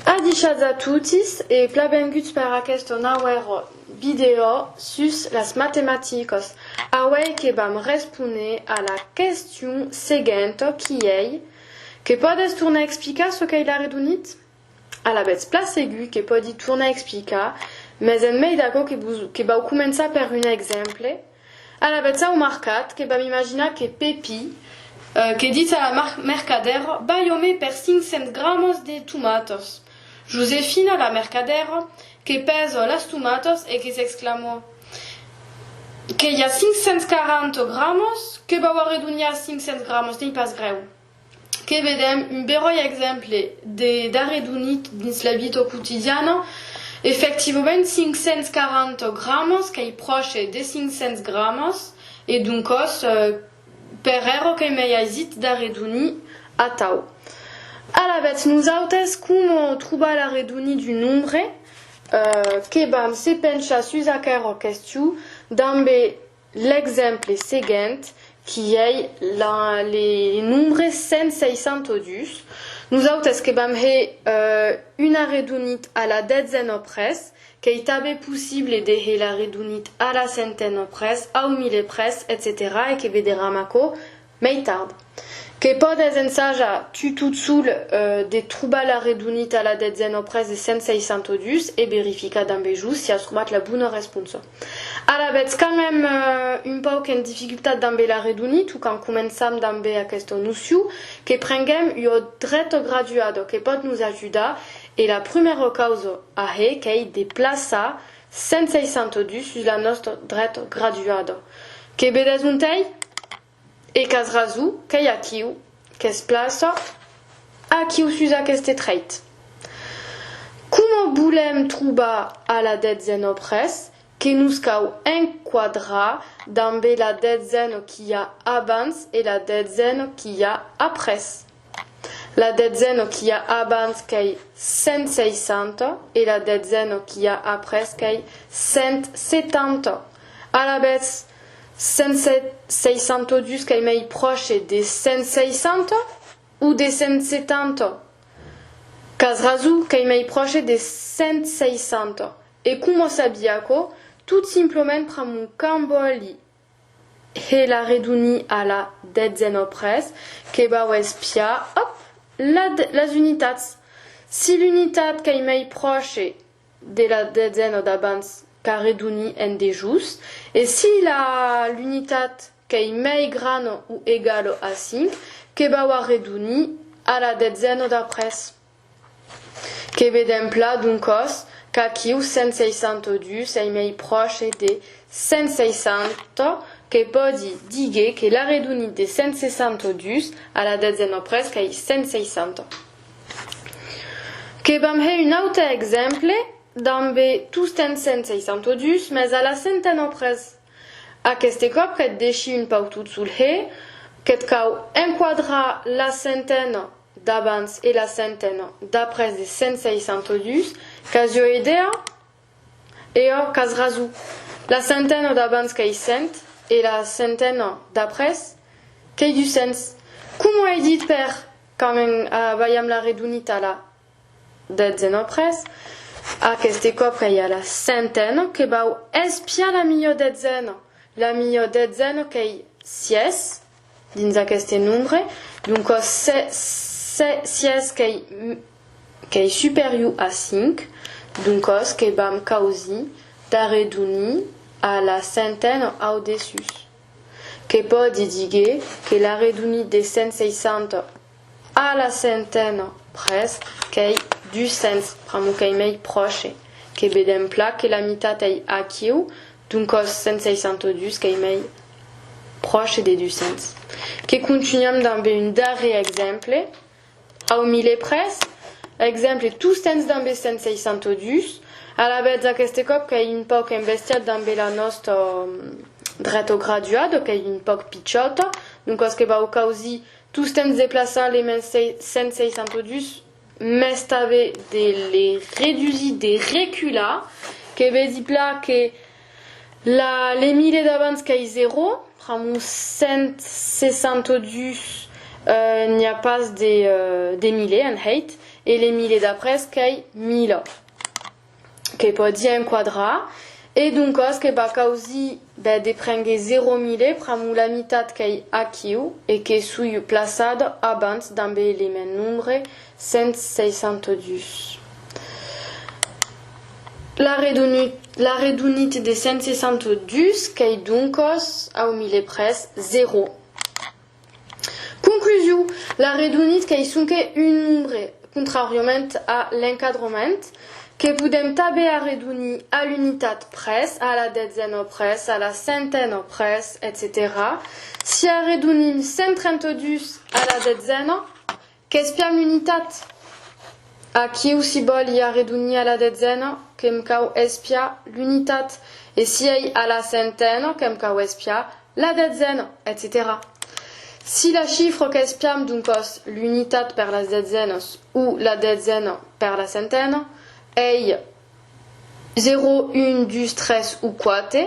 Adishatz a totis e plabenguts per aqueste nauèr vidèo sus las matematicas. Auèi que vam responer a la question seguenta qui ei, Que pòdes tornar explicar çò qu'ei l'arredonit? Alavetz plan segur que pòdi tornar explicar, mès en mei d'aquò que vau començar per un exemple, Alavetz au marcat, que vam imaginar que Pepi, que ditz a la mercadèra, Balhomé per cinc cents gramas de tomatas. Josefina, la mercadèra, que pèsa las tomatas e que s'exclama, Que i a cinc cents quaranta gramas? Que vau arredonhar cinc cents gramas, n'ei pas grèu. que vedèm un beròi exemple de d'arredonit dins la vita quotidiana, efectivament 540 gramas qu'ei pròche de 500 gramas e doncòs per ero que m'ei aisit d'arredonir atau. Alavetz nosautes coma trobar l'arredonit d'un nombre? Que vam se penchar sus aquera question dambe L'exemple seguent qu'i ei le nombre 162. Nosautes que vam hèr una redonit a la detzen ò pres, qu'ei tanben possible de hèr la redonit a la centena ò pres, au mile pres, etcetèra e que vederam aquò Mai tard. Que pòdes ensajar tu tot sol de trobar la redonita la detzen après de 162 e verificar damb es jus si as trobat la bona responsa. Ara vètz quand mèm un pauc en dificultat damb la redonit o quand començam damb aquesta nocion que prenguem ua dreta graduada que pòt nos ajudar e la prumèra causa a hèr qu'ei de plaçar 162 sus la nòstra dreta graduada, que vedètz ontei? E qu'as raso, qu'ei aquiu qu'es plaça, aquiu sus aqueste trèit. Coma volèm trobar a la detzena o pres, que nos cau enquadrar dambe la detzena qu'i a abans e la detzena qu'i a après. La detzena qu'i a abans qu'ei 160 e la detzena qu'i a après qu'ei 170. Alavetz, 162 qu'ei mei pròche de 160 o de 170? Qu'as raso, qu'ei mei pròche de 160. E coma o sabia aquò? Tot simplement pr'amor qu'ambolli. He la reduni a la detzen au pres que vau espiar, òp, la las unitats. Si l'unitat qu'ei mei pròche de la detzen au d'abans qu'a reduni en dejús e si la l'unitat qu'ei mei grano u egalo a cinc que vau a reduni a la detzen au d'après. Que vedèm plan d'un còs qu'aquiu 162 sei mei pròche de 160, que pòdi díger que l'arredonit de 162 a la detzena o presque ei 160. Que vam hèr un aute exemple dambe tostemps 162, mès a la centena o pres. Aqueste còp que't deshi un pautot sul hè, que't cau enquadrar la centena. d'abans e la centena d'après de 162 qu'as jo edèa? E ò qu'as raso, la centena d'abans qu'ei cent e la centena d'après qu'ei duscents, coma ei dit per quand en balham la redonita la detzen après, aqueste còp qu'ei a la centena que vau espiar la milhor detzena, la milhor detzena qu'ei sièis, Dins aqueste nombre, d'un còs sièis qu'ei superior a 5, d'un còs que vam causir d'arredonir a la centena au dessús, que pòdi díger que l'arredonit de 160 A la centena pres qu'ei duscents, pr'amor qu'ei mei pròche, que vedèm plan que la mitat ei aquiu, doncòs 162 qu'ei mei pròche de duscents. Que contunham dambe un darrèr exemple, au miler pres, exemple tostemps dambe 162, alavetz aqueste còp qu'ei un pauc embestiat dambe la nòsta dretograduada, qu'ei un pauc pichòta, doncòs que vau causir Tostemps deplaçar les mens 162 mès tanben de les redusir, de recular, que ve dir pla que la les mile d'abans qu'ai 0, amb un 162 n'i a pas de mile en hèit e les mile d'après qu'ai 1000. que pòdi enquadrar e doncas que va causir bèth de prendre 0000 pr'amor la mitat qu'ei aquiu e que soi plaçada abans damb er element nombre 162. La redonit de 162 qu'ei doncas au millepres 0. Conclusion, l'arredonit qu'ei sonque un nombre, contràriament a l'encadrement, que podem tanben arredonir a l'unitat pres, a la detzena pres, a la centena pres, etcetèra Si arredonim 132 a la detzena, Qu'es plan l'unitat! Aquiu si bòl i arredonhia la detzena, que'm cau espiar l'unitat, e si ei a la centena, que'm cau espiar la detzena, etcetèra Si la chifro qu'espiam d'un còs l'unitat per las detzenas o la detzena per la centena ei zero, un, dus, tres o quate,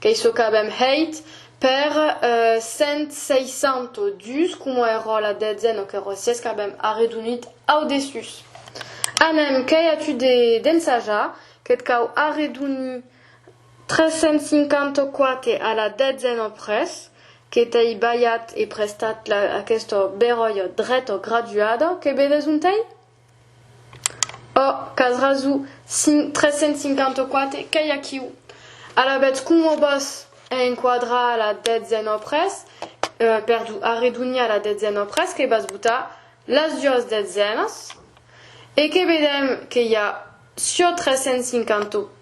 Qu'ei çò qu'avèm hèit per 162, coma èrò la detzen o qu'èrò sies qu'avèm arredonit au dessús. Anem, qu'ei a tu de d'ensajar, que't cau arredonir 354 a la detzen o pres, que t'ei balhat e prestat la aquesta beròia dreta graduada, que vedes ont ei? Ò, qu'as raso, 354, qu'ei aquiu. Alavetz coma vos hè enquadrar la detzen ò pres, perdon, arredonhar la detzen ò pres, que vas botar las duas detzenas e que vedèm que i a çò 354.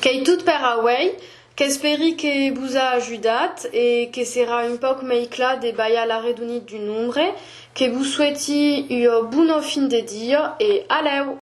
Qu'ei tot per auei, qu'esperi que vos a ajudat e que serà un pauc mei clar de balhar l'arredonit d'un nombre, que vos sueti ua bona fin de dia e alèu!